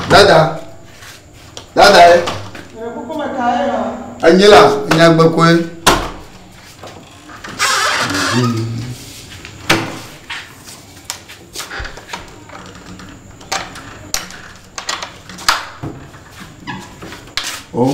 Dada, dada ye. Anyi la, nyagbe koe. Oh.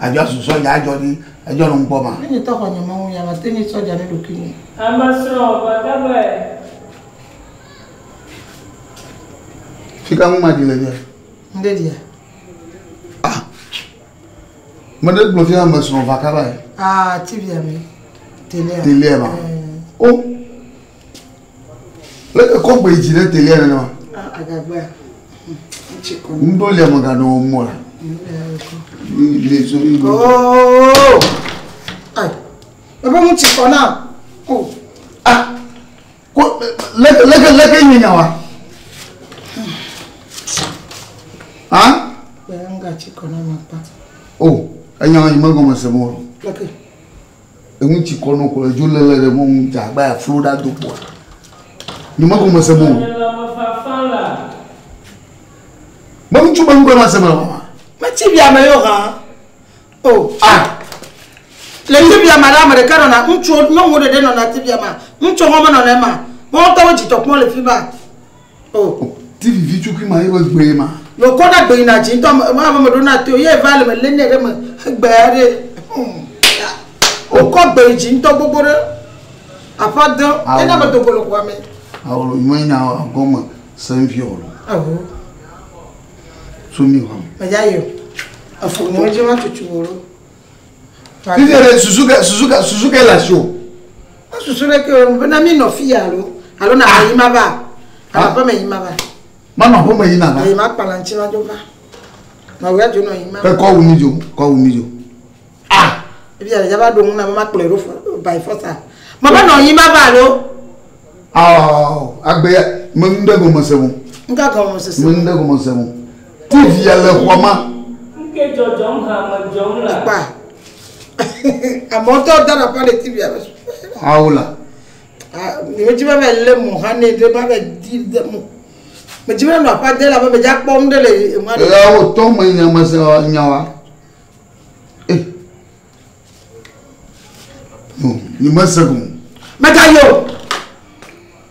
Adzɔ susɔ ya adzɔ ɖi edzɔ nɔ ŋkpɔ ma. Ne nye tɔ xɔ nye Mawu ya ma te ŋui tsɔ dza ne ɖokui nye. Ame srɔ va ga be. Fika ŋu ma ɖi le fia. Ŋde ɖia. Ah me ɖe gblɔ fia ame srɔ va ka ba ye. Ah ti via me. Telia. Telia ma. Oh. Kɔ gbe yi dzi ɖe te ɣe nenema. Agagbea. Ŋɖo lia me gaɖo wo mɔ la. Le so yi. Oh! Ai. Baba mu tsi kɔ na. Oh. Ah. Ko leke leke leke nye nya wa. Ah. Bɛn ga tsi kɔ na ma pa. Oh. Enya yi me gɔme se mo. Leke. Eŋu tsi kɔ no kplɔ edzo lele ɖe mɔnu dza agba ya flo ɖa do kpoa. Ni mako me se mo. Me ŋu tsu be ŋu be ma se me wa. Me tsi bia me yo ha. Oh. Ah. Le yi bia ma la me ɖeka nɔ na ŋu tsu nyɔnu ɖe ɖe nɔ na ti bia ma. Ŋu tsu hɔme nɔ na ma. Mo tɔ wo dzi tɔ kpɔ le fi ba. Oh. TV vitukui ma ye be gbee ma. No kɔ da gbe na dzi ŋutɔ me ma me ɖo na to ye va le me le ne ɖe me gbe ya ɖe. O kɔ gbe dzi ŋutɔ gbogbo ɖe. Apa de ye na me do go le xɔa me. Awo lo me nya gɔme se vi o lo. Aho. So mi hwa. Me ja yo. Afo mo je ma tutu wo lo. Vivi re suzuka suzuka suzuka la sio. Mesusu ɖeke o, bena mi nɔ fi ya alo, alo na ƒe yi ma va, alo aƒe me yi ma va. Manɔ aƒe me yi na va. Yi ma kpala ŋuti ma dzo va. Nɔ wea dzo nɔ yi ma. Ke kɔ wu mi dzo, kɔ wu mi dzo. Ah! Ebi ya le ya va ɖo ŋu na be ma kplɔe ɖo by force a. Ma va nɔ yi ma va alo. Oh, agbe ya, me nu ɖe gome se mo. Ŋka gɔme se se. Me nu ɖe gome se mo. TV ya le xɔ ma. Ŋke dzɔdzɔm ha me dzɔm la. Kpa. Amewo tɔ da ɖe pale TV alo. Awo la. Mìwo dzi va va lé mɔ hã ne ɖe va va di de mɔ. Mèdzi va nɔ aƒa de la be mèdzi akpɔ nu ɖe le ema ɖe. Ela wo tɔ me nya me se nya wa. Eh. No, ni mese gum. Meta yo.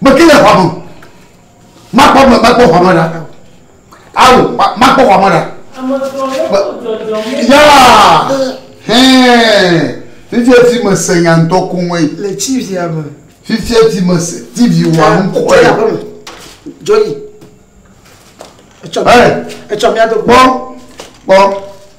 Meke le xɔa me o. Makpɔ ame makpɔ xɔa me ɖa. Alo makpɔ xɔa me ɖa. Yaa hɛn fifia ti me se nya ŋutɔ ko ŋue. Le tivia me. Fifia ti me se tivi wa ŋkɔe. Jɔyi aƒeme. Jɔyi. Etsɔ mi ado. Kpɔ kpɔ.